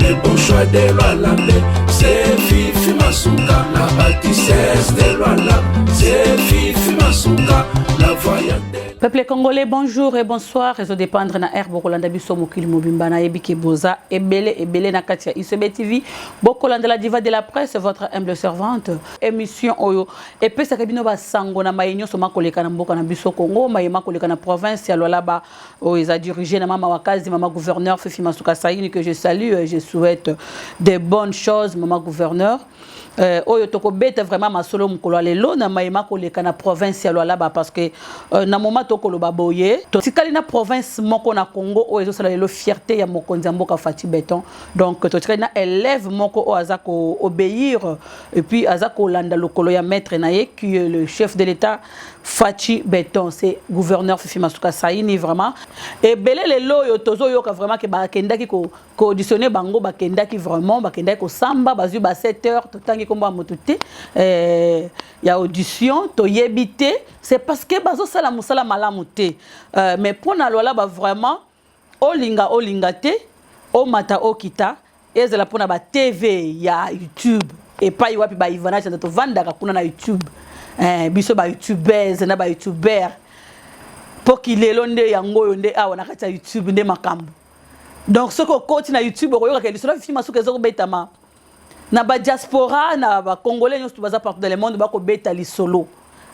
Le bon choix de Lualambe, c'est Fifi Masuka, la bâtisseuse de Lualambe, c'est Fifi Masuka, la voyante. Peuple congolais, bonjour et bonsoir. Réseau dépendre na air bokolanda biso mokili mobimba na yebi ke boza ebele ebele na katia ICB TV. Bokolanda la diva de la presse, votre humble servante. Émission oyo epesaka bino ba sango na maye nyonso makoleka na mboka na biso Congo, maye makoleka na province ya Lualaba. Oh, ils a dirigé na maman Wakazi, maman gouverneur Fifi Masuka Saïni que je salue et je souhaite des bonnes choses maman gouverneur. Euh, oyo tokobeta vraiment masolo mokolo ya lelo na mayema koleka na province ya lwalaba parce que euh, na moma tokoloba boye totikali na province moko na congo oyo ezosala lelo fierté ya mokonzi ya mboka fati beton donc totikali na élève moko oyo aza koobéir epuis aza kolanda lokolo ya maître na ye qui est le chef de l'état Fatshi Beton c'est gouverneur Fifi Masuka Saini vraiment et belé les loyo tozo yoka vraiment que ba kendaki ko auditionner bango ba kendaki vraiment ba kendaki ko samba ba zu ba 7 heures to tangi komba moto té euh ya audition to yebité c'est parce que bazo sala musala malamu té euh, mais pona lola ba vraiment Olinga olinga te, omata okita, ezala mpo na ba TV ya YouTube epai wapi ba Ivana Chanda tovandaka kuna na YouTube eh, biso ba YouTubers na ba YouTubers mpo kilelo nde yango oyo nde awa na kati ya YouTube nde makambo donc soki okoti na YouTube okoyoka ke lisolo fifi masuka ezokobetama na ba diaspora na ba congolais nyonso baza partout dans le monde bako beta lisolo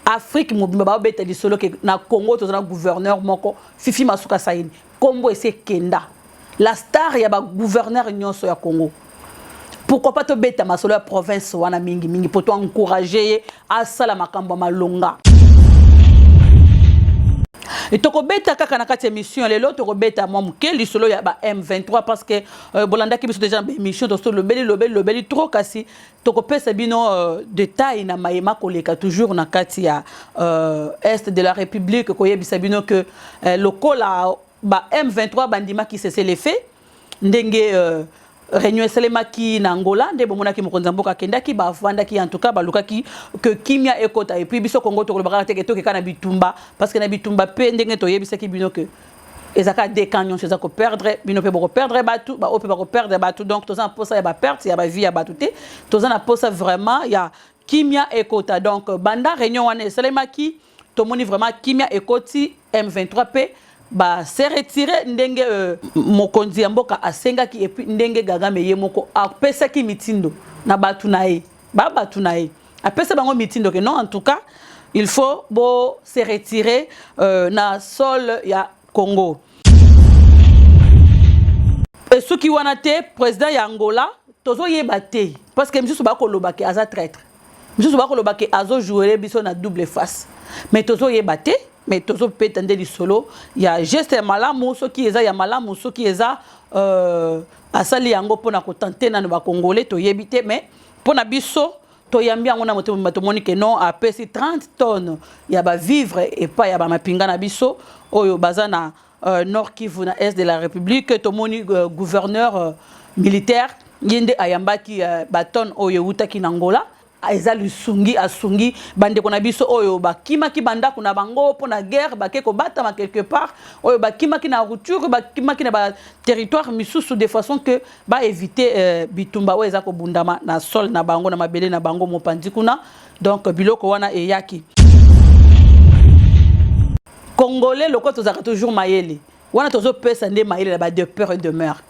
afrique mobimba bao beta lisolo ke na congo toza na gouverneur moko fifi masuka saini kombo ese kenda la star ya ba gouverneur nyonso ya congo pourquoi pas tobeta masolo ya province wana mingi mingi mpo to encourage ye asala makambo ya malonga tokobeta kaka na kati ya émission lelo tokobeta mwa moke lisolo ya ba m23 parce que Euh, bolandaki biso deja na baémission tosi tolobeli lobeli lobeli trop kasi tokopesa bino euh, détail na maye makoleka toujours na kati ya euh, est de la république koyebisa bino que lokola ba m23 bandimaki cessez le fait ndenge réunion esalemaki na angola nde bomonaki mokonzi ya mboka akendaki bafandaki en tout cas balukaki ke kimia ekota epuis biso kongo tokolobaka te ke tokeka na bitumba parce que na bitumba mpe ndenge toyebisaki bino ke eza kaka de camp nyonso eza koperdre bino mpe bokoperdre bato baoyo mpe bakoperdre bato donc toza na mposa ya baperte ya bavie ya bato te toza na mposa vraiment ya kimia ekota donc banda réunion wana esalemaki tomoni vraiment kimia ekoti m23 mpe ba se retire ndenge euh, mokonzi ya mboka asengaki epuis ndenge gagame ye moko apesaki mitindo na bato na ye ba bato na ye apesa bango mitindo ke non en tout cas il faut bo se retirer euh, na sol ya congo esuki wana te président ya angola tozoyeba te parce que misusu bakoloba ke aza traitre misusu bakoloba ke azojouele biso na double face mais tozoyeba te mais tozopeta nde lisolo ya geste ya malamu soki eza ya malamu soki eza euh, asali yango mpona kotante nano bacongolais toyebi te mais Mpo na biso toyambi yango na motema mobimba tomoni ke non apesi 30 tonnes ya bavivre epai ya bamapinga na biso oyo baza na euh, nord kivu na est de la république tomoni euh, gouverneur euh, militaire ye nde ayambaki euh, batonne oyo ewutaki na ngola eza lisungi asungi bandeko na biso oyo bakimaki bandako na bango mpo na guerre bake kobatama quelque part oyo bakimaki na rupture bakimaki na baterritoire misusu de façon que ba eviter euh, bitumba oyo eza kobundama na sol na bango na mabele na bango mopanzi kuna donc biloko wana eyaki congolais lokola tozalaka toujours mayele wana tozopesa nde mayele na ba de peur et demeure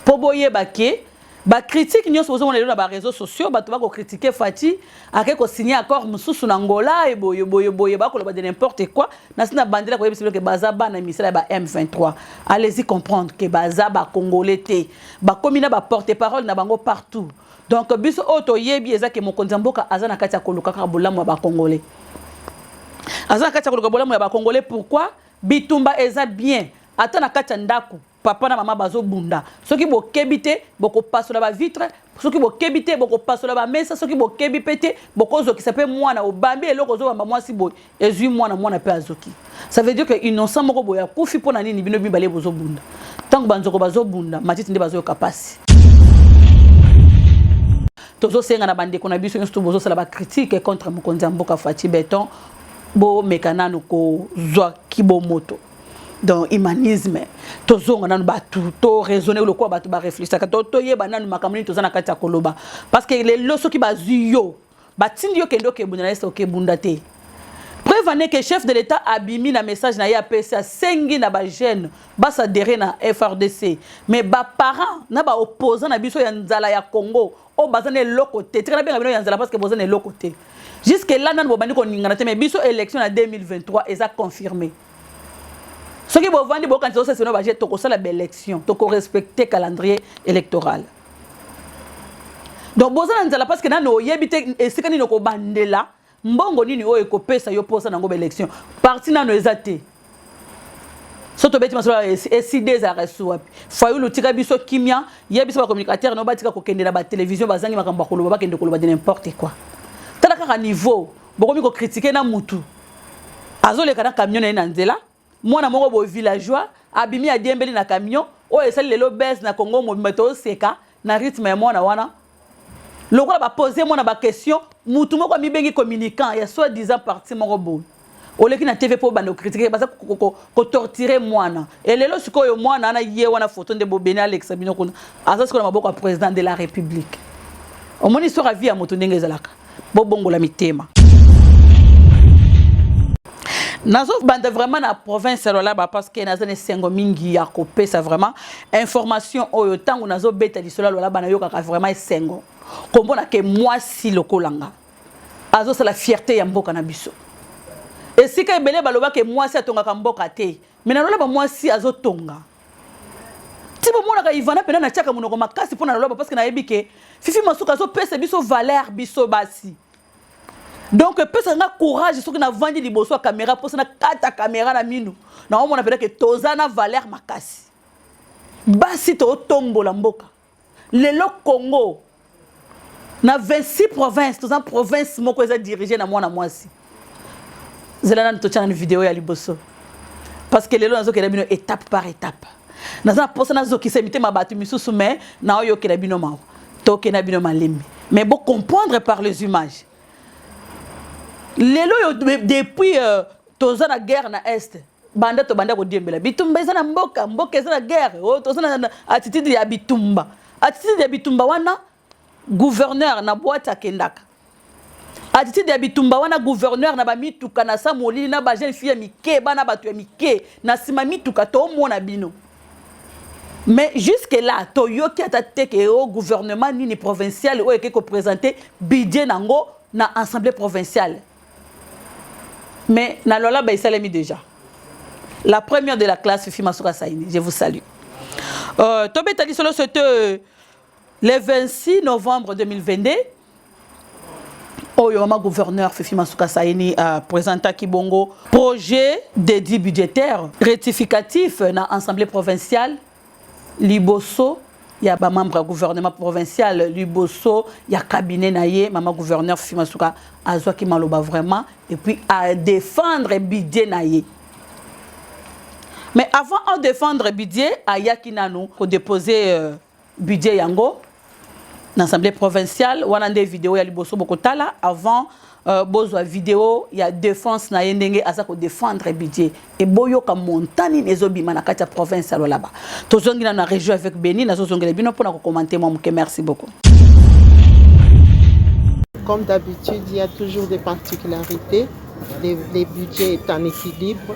mpo boyeba ke bakritike nyonso bozomona lelo na bareseau sociaux bato bakokritike fati ake ko signer accord mususu na Angola et boye boye boye ba koloba de n'importe quoi na sina bandela ko yebisa que baza bana misala ba M23 allez-y comprendre que baza ba congolais te ba komi na ba porte parole na bango partout donc biso oyo toyebi eza ke mokonzi ya mboka aza na kati ya koluka kaka bolamu ya ba congolais aza na kati ya koluka bolamu ya ba congolais pourquoi bitumba eza bien ata na kati ya ndako papa na mama bazobunda soki bokebi te bokopasola bavitre soki bokebi te bokopasola bamesa soki bokebi mpe te bokozokisa mpe mwana obambi eloko ozobamba mwasi boye ezwi mwana mwana mpe azoki ça veut dire que innocent moko boye akufi mpo na nini bino mibale bozobunda ntango banzoko bazobunda matiti nde bazoyoka mpasi tozosenga na bandeko na biso nyonso to bozosala bacritique contre mokonzi ya mboka faci beton bomeka nanu kozwa kibomoto donc humanisme tozonga nanu bato to raisonne lokola bato bareflechaka to toyeba nanu makambo nini toza na kati ya koloba parce que lelo soki bazwi yo batindi yo kende okebunda na ese okebunda te preuve ane ke chef de l'état abimi na message na ye apesi asengi na bajeune basadere na frdc mais baparent na baopposant na biso ya nzala ya congo oyo oh, baza na eloko te tika nabenga bino ya nzala parce que boza na eloko te jusque là nanu bobandi koningana te mais biso élection na 2023 eza confirmé soki bovandi bokanisa osese bino baje tokosala baélection tokorespecte calendrier électoral donc boza na nzala parce que nanu oyebi te esika nini okobandela mbongo nini oyo ekopesa yo mposa na yango baélection parti nano eza te so tobeti masolo eside ezalaka esusu wapi fayulu tika biso kimia ye biso bacommunicateur no batika kokende na batelevizio bazangi makambo ya koloba bakende koloba de n'importe quoi tala kaka niveau bokomi kokritike na mutu azoleka na camion na ye na nzela mwana moko boye villageois abimi adiembeli na camion oyo esali lelo base na congo mobimba tooseka na rythme ya mwana wana lokola bapose mwana baquestion mutu moko amibengi communicant ya soit disant parti moko boye oleki na tv mpo obanda kokritike baza kotortire mwana elelo sikoyo mwana wana ye wana foto nde bobeni alekisa bino kuna aza sikoyo na maboko ya président de la république omoni histoire ya vie ya moto ndenge ezalaka bobongola mitema nazobanda vraiment na province ya lolaba parceke naza na esengo mingi ya kopesa vraiment information oyo ntango nazobeta lisolo ya lolaba nayokaka vraiment esengo komona ke mwasi lokola nga azosala fierte ya mboka na biso esika ebele balobaka mwasi atongaka mboka te Mais na lola ba mwasi azo tonga. Ti bo monaka Ivana pena na chaka munoko makasi pona lola parce que na yebi ke Fifi Masuka azo pesa biso valeur biso basi. Donc pesa nga courage soki na vandi liboso ya camera posa na kata camera na minu. Na omona pena ke toza na valeur makasi. Basi to tombola mboka. Lelo Congo na 26 province toza province moko eza dirige na mwana mwasi zela nanu totya nanu video ya liboso parce que lelo nazokela bino étape par étape naza na mposa nazokisa mitema bato misusu mais naoyokela bino mawa tokenda bino malembe mais bo comprendre par les images lelo oyo depuis euh, toza na guerre na est banda tobanda kodiembela bitumba eza na mboka mboka eza na guerre oyo oh, toza na attitude ya bitumba attitude ya bitumba wana gouverneur na boite akendaka attitude ya bitumba wana gouverneur na bamituka na sa molili na bajeune fille ya mike bana bato ya mike na nsima mituka tomona bino mais jusque là toyoki ata te ke o oh, gouvernement nini provincial oyo eke kopresente budget na yango na assemblée provinciale Mais na Lualaba esalemi déjà. La première de la classe Fifi Masuka Saini, je vous salue. Euh, tobeta lisolo c'était euh, le 26 novembre 2022 oyo mama gouverneur fifi masuka saini apresentaki euh, bongo projet de dit budgétaire rectificatif na assemblée provinciale liboso ya ba membre ya gouvernement provincial liboso ya cabinet na ye mama gouverneur fifi masuka azwaki maloba vraiment et puis a défendre budget na ye mais avant a défendre budget ayaki nanu ko déposer euh, budget yango na assemblée provinciale wana nde video ya liboso bokotala avant euh, bozwa video ya défense na ye ndenge aza kodefendre budget eboyoka montant nini ezobima na kati ya province ya lolaba tozongi na na région avec beni nazozongela bino mpo na kokomante mwa moke merci beaucoup comme d'habitude il y a toujours des particularités les, les budgets est en équilibre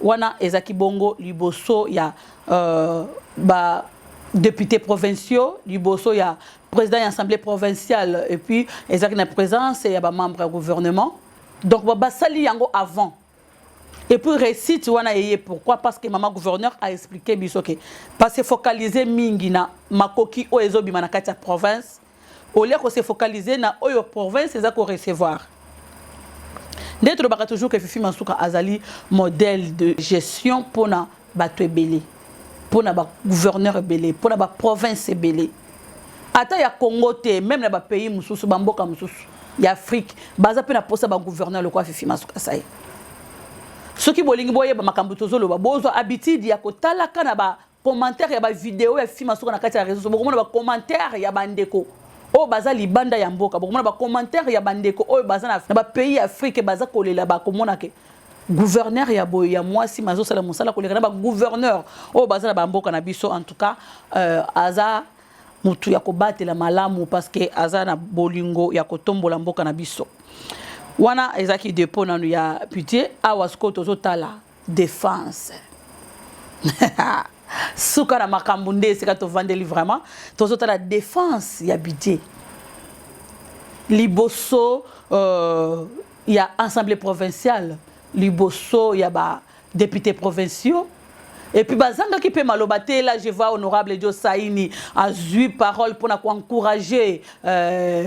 Wana ezaki bongo liboso ya euh, ba députés provinciaux liboso ya président ya assemblée provinciale et puis ezalaki na présence ya bamembre ya gouvernement donc basali yango avant et puis récite wana eye pourquoi parce que mama gouverneur a expliqué biso ke parce focalise mingi na makoki oyo ezobima na kati ya province au lieu ko se focaliser na oyo province eza ko recevoir nde tolobaka toujours que fifi masuka azali modèle de gestion mpona bato ebele mpona bagouverneur ebele mpona baprovince ebele ata ya congo te meme na bapays mosusu bamboka mosusu ya afrique baza mpe na mposa bagouverneur lokola fifi masuka sai soki bolingi boyeba makambo tozoloba bozwa habitude ya kotalaka na ba commentaire ya ba video ya fima soka na kati ya reseau bokomona ba commentaire ya ba ndeko oyo baza libanda ya mboka bokomona ba commentaire ya ba ndeko oyo baza na ba pays ya Afrique baza kolela ba komona ke gouverneur ya boye ya mwasi mazo sala musala koleka na ba gouverneur oyo baza na ba mboka na biso en tout cas euh, aza mutu ya kobatela malamu parce que aza na bolingo ya kotombola mboka na biso wana ezaki dépôt nanu ya pitié awa sikoyo tozotala Defense. Suka na makambo nde esika tovandeli vraiment tozotala defense ya budget liboso euh, ya assemblée provinciale liboso ya ba députés provinciaux et puis bazangaki mpe maloba te là je vois honorable Joe Saini azui parole mpona koencourager euh,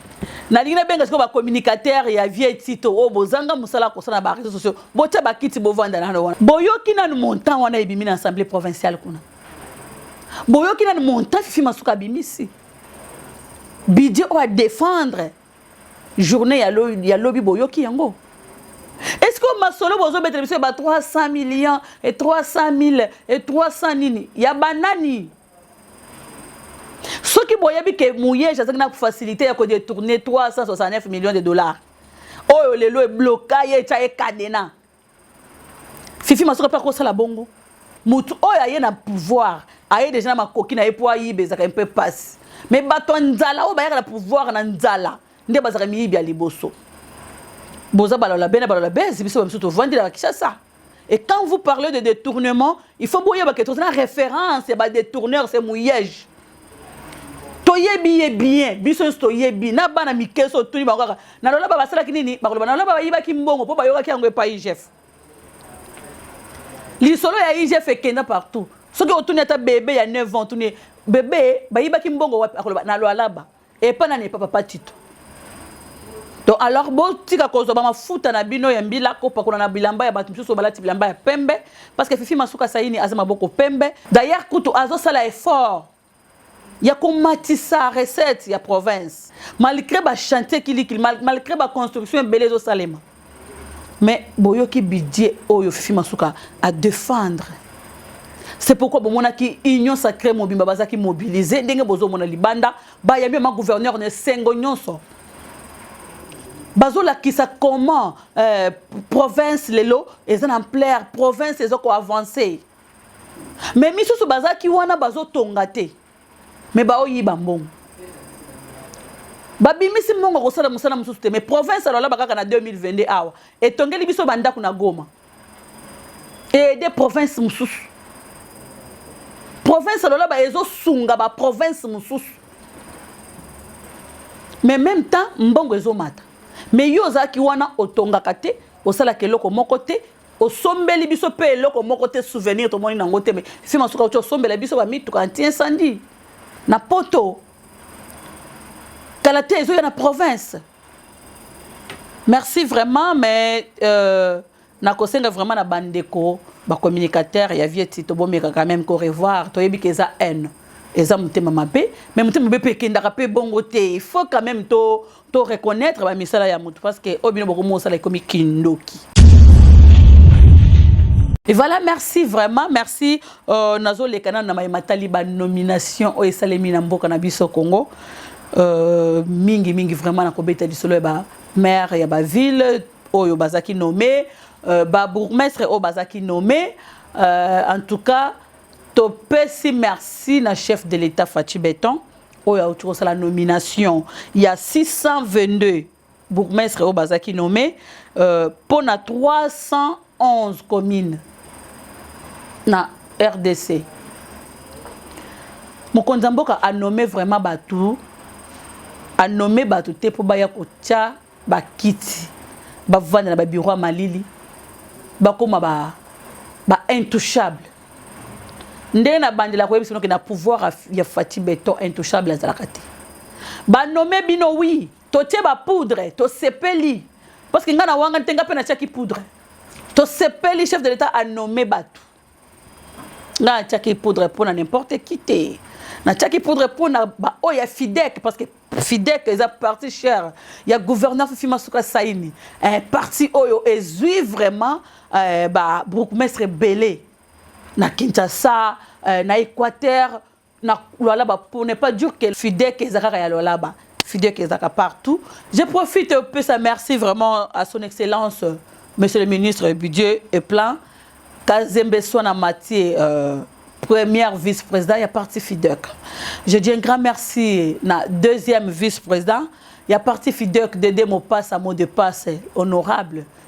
nalingi nabenga sikoyo bacommunicateur ya vie tito oyo bozanga mosala kosala na bareseau sociaux botya bakiti bovanda nano wana boyoki nanu montant wana ebimi na assemblée provinciale kuna boyoki nanu montant fifi masuka abimisi bidje oyo adefendre journée ya lobi boyoki yango est ce que masolo bozobetela biso ya ba 300 millions et 300 000 et 300 nini ya banani soki boyebi ke muyeji azalaki na facilité ya kodetourne 369 millions de dollars oyo lelo ebloka ye etya ye kadena fifi masoka mpe akosala bongo motu oyo aye na pouvoir aye deja na makoki na ye mpo ayiba ezalaka mpe mpasi me bato ya nzala oyo bayaka na pouvoir na nzala nde bazalaka miyibi ya liboso boza balola bene balola bezi biso bamisu tovandi na kinshasa Et quand vous parlez de détournement, il faut que vous ayez une référence, c'est pas détourneur, c'est mouillage. toyebi ye bien biso nyonso toyebi na bana mike so otuni bango kaka na lolaba basalaki nini bakoloba na lolaba bayibaki mbongo mpo bayokaki yango epai igf lisolo ya igf ekenda partout soki otuni ata bebe ya 9 ans otuni bebe bayibaki mbongo wapi akoloba na lwalaba epa nani epa papa tito donc alors botika kozwa bamafuta na bino ya mbila kopakola na bilamba ya bato mosusu balati bilamba ya pembe parce que fifi masuka saini aza maboko pembe d'ailleurs kutu azosala effort ya komatisa recette ya province malgré bachantier kilikili malgré baconstruction ebele ezosalema Mais boyoki budget oyo Fifi Masuka a defendre. C'est pourquoi bomonaki union sacrée mobimba bazaki mobiliser ndenge bozomona libanda bayambi ma gouverneur ne sengo nyonso. bazolakisa comment euh, province lelo eza na ampleur province eza koavance mais misusu bazalaki wana bazotonga te mais baoyiba mbongo babimisi mbongo kosala mosala mosusu te mais province alolaba kaka na 2022 awa etongeli biso bandako na goma eede province mosusu province alolaba ezosunga baprovince mosusu mais même temps mbongo ezomata mais yo ozalaki wana otongaka te osalaka eloko moko te osombeli biso mpe eloko moko te souvenir tomoni nango te me fi masuka uti osombela biso bamituka anti incendie na poto kala te ezoya na province merci vraiment mais euh, nakosenga vraiment na bandeko bacommunicateur ya vieti tobomekaka meme ko revoir toyebi ke eza haine eza motema mabe mais motema mabe mpe ekendaka mpe bongo te il faut quand même to to reconnaître ba misala ya mutu parce que obino boko mosala ekomi kindoki Et voilà, merci vraiment, merci. Euh, nazo le canal na matali ba nomination o esalemi na mboka na biso Congo. Euh, mingi mingi vraiment na kobeta lisolo ba maire ya ba ville oyo bazaki nommé, euh, ba bourgmestre oyo bazaki nommé. Euh, en tout cas, topesi merci na chef de l'État Fatshi Beton. oyo auti kosala nomination ya 622 bourgmestre oyo bazalaki nommé euh, mpo na 311 commune na rdc mokonzi ya mboka anome vraiment bato anome bato te mpo baya kotya ba kiti ba vanda na ba bureau ya malili ba koma ba ba intouchable ndenge na bandela ko yebisa noke na pouvoir ya Fatih Beton intouchable azalaka te ba nomme bino oui to tie ba poudre to sepeli parce que nga na wanga te nga pe na tiaki poudre to sepeli chef de l'etat a nomme bato nga atiaki poudre mpo na n'importe qui te natiaki poudre mpo na baoyo ya fidek parce que fidek eza parti cher ya gouverneur fifi masuka saini eh, parti oyo ezwi vraiment eh, ba bourgmestre ebele na kinshasa eh, na équateur na Lualaba pour ne pas dire que Fidek ezakaka ya Lualaba Fidek ezaka partout je profite peu ça merci vraiment à son excellence monsieur le ministre budget et plein Kazembe Swana Matie euh, première vice-président ya parti Fidek je dis un grand merci na deuxième vice-président ya parti Fidek Dede Mopassa mot de passe honorable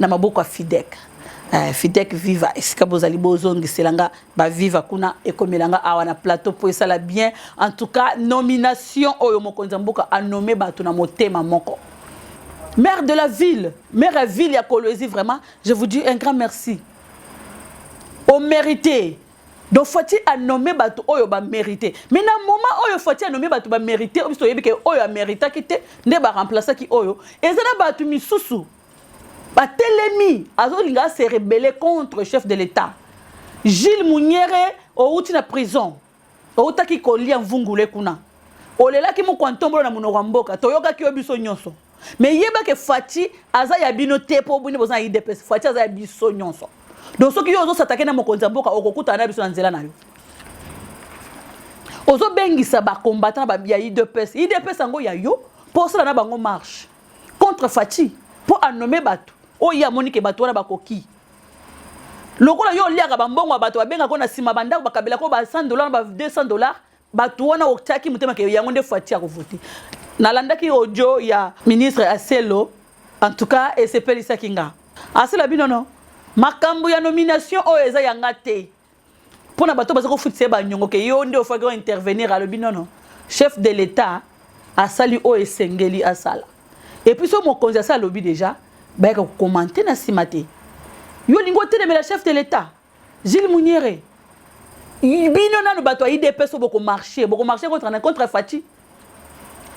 na maboko ya fidek eh, fidek viva esika bozali bozongisela nga baviva kuna ekomela nga awa na plateau mpo esala bien en tout cas nomination oyo mokonzi ya mboka anome bato na motema moko maire de la ville maire ya ville ya kolwezi vraiment je vous dis un grand merci omérité donc fati anome bato oyo bamérite mais na moment oyo fati anome bato bamérite biso toyebi ke oyo ameritaki te nde baremplasaki oyo eza na bato misusu batelemi azolinga ase rebelle contre chef de l'etat gilles munyere outi na prison outaki kolia mvungule kuna olelaki mokwa ntombolo na monoko ya mboka toyokaki yo biso nyonso me yeba ke faci aza ya bino te mpo bino boza na idps faci aza ya biso nyonso donc soki yo ozosatake na mokonzi ya mboka okokutana na biso na nzela na yo ozobengisa bacombatant ya idps idps yango ya yo mpo osala na bango marche contre Fatshi mpo a nommer bato oyo ye amoni ke bato wana bakoki lokola yo oliaka bambongo ya bato babengaka na nsima bandako bakabelaka oyo ba 100 dollar na ba 200 dollar bato wana otyaki motema ke yango nde Fatshi akovote nalandaki audio ya ministre ya selo en tout cas esepelisaki nga asila bino no makambo ya nomination oyo eza yanga te mpo na bato baza kofutisa ye banyongo ke yo nde ofaki o intervenir alobi nono chef de l'etat asali oyo esengeli asala epuis oyo mokonzi asi alobi deja bayaka kokomante na nsima te yo olingi otelemela chef de l'etat gile muniere bino nano bato ya idps oyo bokomarche bokomarche contre, contre faci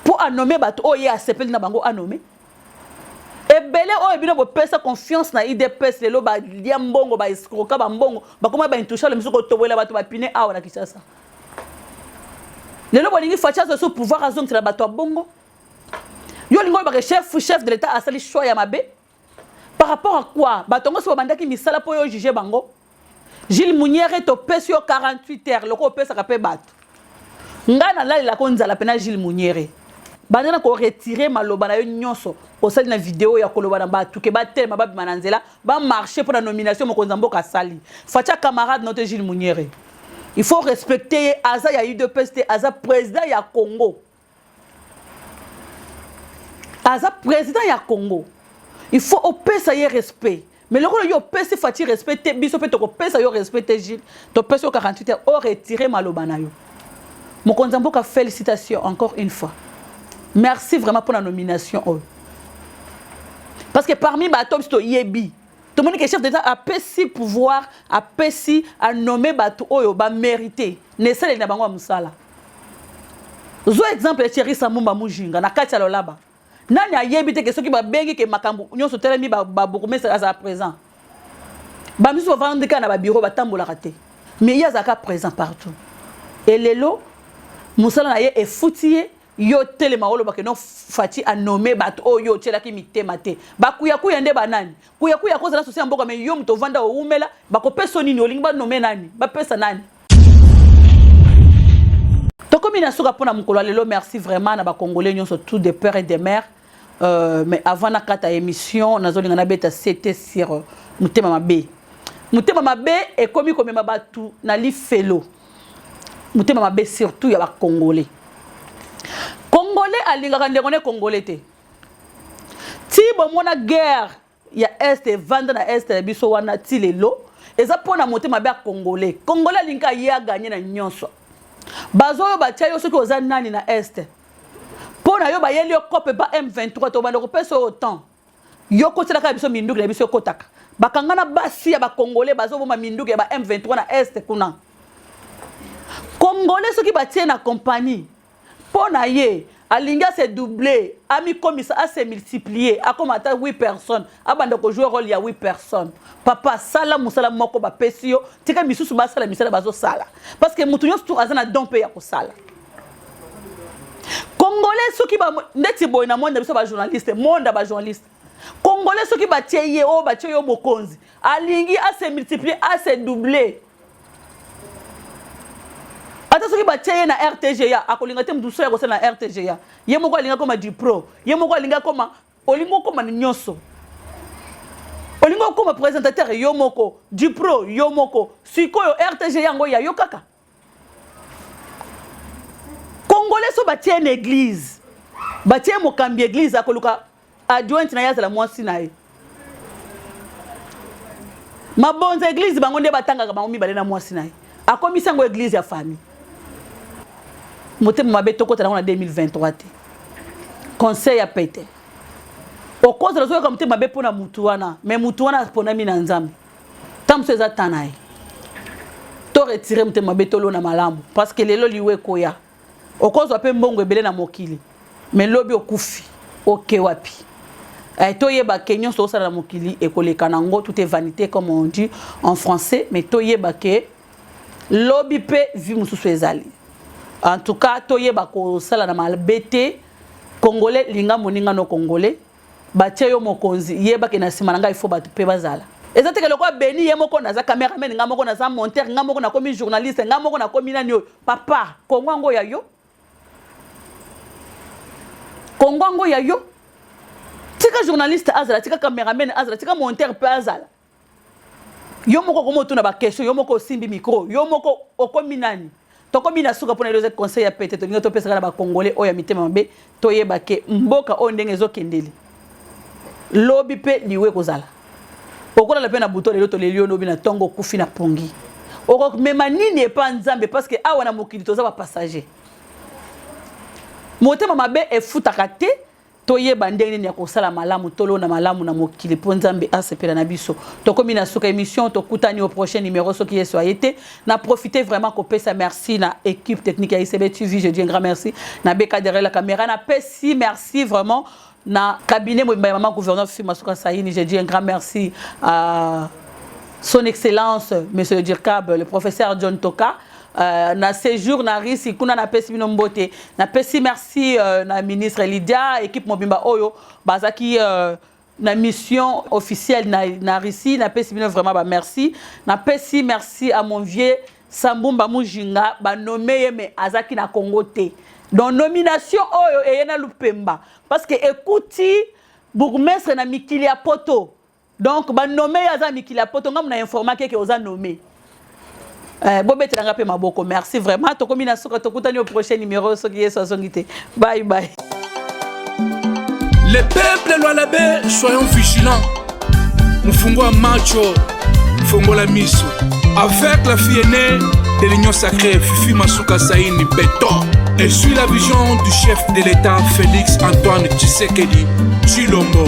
mpo anome bato oyo ye asepeli na bango anome ebele oyo bino bopesa confiance na idps lelo balia mbongo baescroka bambongo bakoma baintouchable mosusu kotobolela bato bapine awa na kinshasa lelo bolingi faci azwa so pouvoir azongisela bato ya bongo yo olingi olobaka chef chef de l'état asali choix ya mabe par rapport à quoi bato yango so babandaki misala mpo yo juge bango Jules Munyere topesi yo 48 heures lokola opesaka mpe bato. Ngai nalalelaka o nzala mpe na Jules Munyere. Banda na ko retirer maloba na yo nyonso osali na video ya koloba na bato ke batelema babima na nzela ba marche mpo na nomination mokonzi ya mboka asali. Fatshi a camarade na yo te Jules Munyere. Il faut respecter ye aza ya udps te aza president ya Congo. aza president ya congo il faut opesa ye respect mais lokola yo opesi faci respect te biso mpe tokopesa yo respect te gile topesi yo 48 heures o retire maloba na yo mokonzi ya mboka félicitation encore une fois merci vraiment mpo na nomination oyo parce que parmi bato biso toyebi tomoni ke chef d'état apesi pouvoir apesi anome bato oyo bamérite na esaleli na bango ya mosala zwa exemple ya Thierry Samumba Mujinga na kati ya lolaba nani ayebi te ke soki babengi ke makambo nyonso telemi babourgmestre azala présent bamisusu bavandi kaka na babiro batambolaka te mais ye azalaka présent partout e lelo mosala na ye efuti ye yo telema oloba ke no fati anome bato oyo yo otyelaki mitema te bakuyakuya nde banani kuyakuya akozala sosi ya mboka me yo moto ovanda owumela bakopesa nini olingi banome nani bapesa nani tokomi na suka mpona mokolo ya lelo merci vraiment na bacongolais nyonso tout de peur et de mare euh, mais avant nakata émission nazolinga nabeta ct sur euh, motema mabe motema mabe ekomi komema bato na lifelo motema mabe surtout ya bacongolais congolais alingaka ndeko ne congolais te ti bomona guerre ya est evanda na est na biso wana ti lelo eza mpo na mote mabe ya congolais congolais alingi aye aganye na nyonso bazo oyo batya yo soki oza nani na est mpo na yo bayeli yo cope ba m23 tobanda kopesa oyo temps yo kotielaka biso minduki na biso ekotaka bakanga na basi ya bacongolais bazoboma minduki ya ba m23 na est kuna congolais soki batie na compagnie Mpo na ye, alingi a se doubler, amikomisa, a se multiplier, akoma ata 8 personnes, abanda ko jouer role ya 8 personnes. Papa, sala musala moko bapesi yo, tika misusu basala misala bazosala. Parce que mutu nyonso tu aza na don mpe ya kosala. Congolais soki ba ndeti boye na monde na biso ba journaliste, monde ba journaliste. Congolais soki batie ye o oh, batie yo mokonzi, alingi a se multiplier, a se doubler. ata soki batie ye na rtga akolinga te moto mosusu ya kosala na rtga ye moko alingi akoma dipro ye moko alingi akoma olingi okoma na nyonso olingi okoma présentateur yo moko dipro yo moko sikoyo rtga yango ya yo kaka congolais so batie na église batie mokambi église akoluka adjointe na ye azala mwasi na ye mabonza eglize bango nde batangaka bango mibale na mwasi na ye akomisi yango eglize ya famille motema mabe tokota nango na 2023 te conseil ya pete okozala ozoyoka motema mabe mpo na motu wana me motu wana aponami na nzambe ntango mosusu eza ta na ye to retire motema mabe tolona malamu parce que lelo liwa ekoya okozwa mpe mbongo ebele na mokili me lobi okufi oke wapi eh, toyeba ke nyonso osala na mokili ekoleka na yango tout est vanité comme on dit en français mais toyeba ke lobi mpe vie mosusu ezali en tout cas toyeba kosala na mabe te congolais linga moninga no congolais batie yo mokonzi yeba ke na nsima na ngai ifo bato mpe bazala eza teke lokola beni ye moko naza cameraman ngai moko naza monteur ngai moko nakomi journaliste ngai moko nakomi nani oyo papa kongo yango ya yo kongo yango ya yo tika journaliste azala tika cameraman azala tika monteur mpe azala yo moko okomi otuna bakestion yo moko osimbi mikro yo moko okomi nani tokomi na suka mpona eloze conseil ya pete tolingi topesaka na bacongolais oyo ya mitema mabe toyeba ke mboka oyo ndenge ezokendeli lobi mpe liwe ekozala okolala mpe na buto lelo toleli yo lobi na ntongo okufi na pongi okomema nini epa nzambe parceke awa na mokili toza bapassager motema mabe efutaka te Toyeba ndenge nini ya kosala malamu, tolona malamu na mokili mpo Nzambe asepela na biso. Tokomi na suka emission, tokutani au prochain numero soki Yesu aye te. Na profiter vraiment kopesa merci na equipe technique ya ICB TV, je dis un grand merci. Na beka derrière la camera, na pesi merci vraiment na cabinet mobimba ya maman gouverneur Fifi Masuka Saini, je dis un grand merci à son excellence monsieur le Dirkab, le professeur John Toka. Euh, na séjour na Russie kuna napesi bino mbote napesi merci euh, na ministre Lydia équipe mobimba oyo bazaki euh, na mission officielle na, na Russie napesi bino vraiment ba merci napesi merci à mon vieux Sambumba Mujinga ba nommé ye mais azaki na Congo te donc nomination oyo eye na Lupemba parce que ekuti bourgmestre na mikili ya poto Donc ba nomme yo aza mikili ya poto ngamu na informa keke oza nomme. Eh, bobetela nga pe maboko merci vraiment tokomi na suka tokutani au prochain numéro soki yesu azongi te bye bye le peuple lwalabe soyons vigilants mofungo ya macho fongola miso avec la fille aînée de l'union sacrée fifi masuka saini beton et suit la vision du chef de l'état félix antoine tshisekedi tshilombo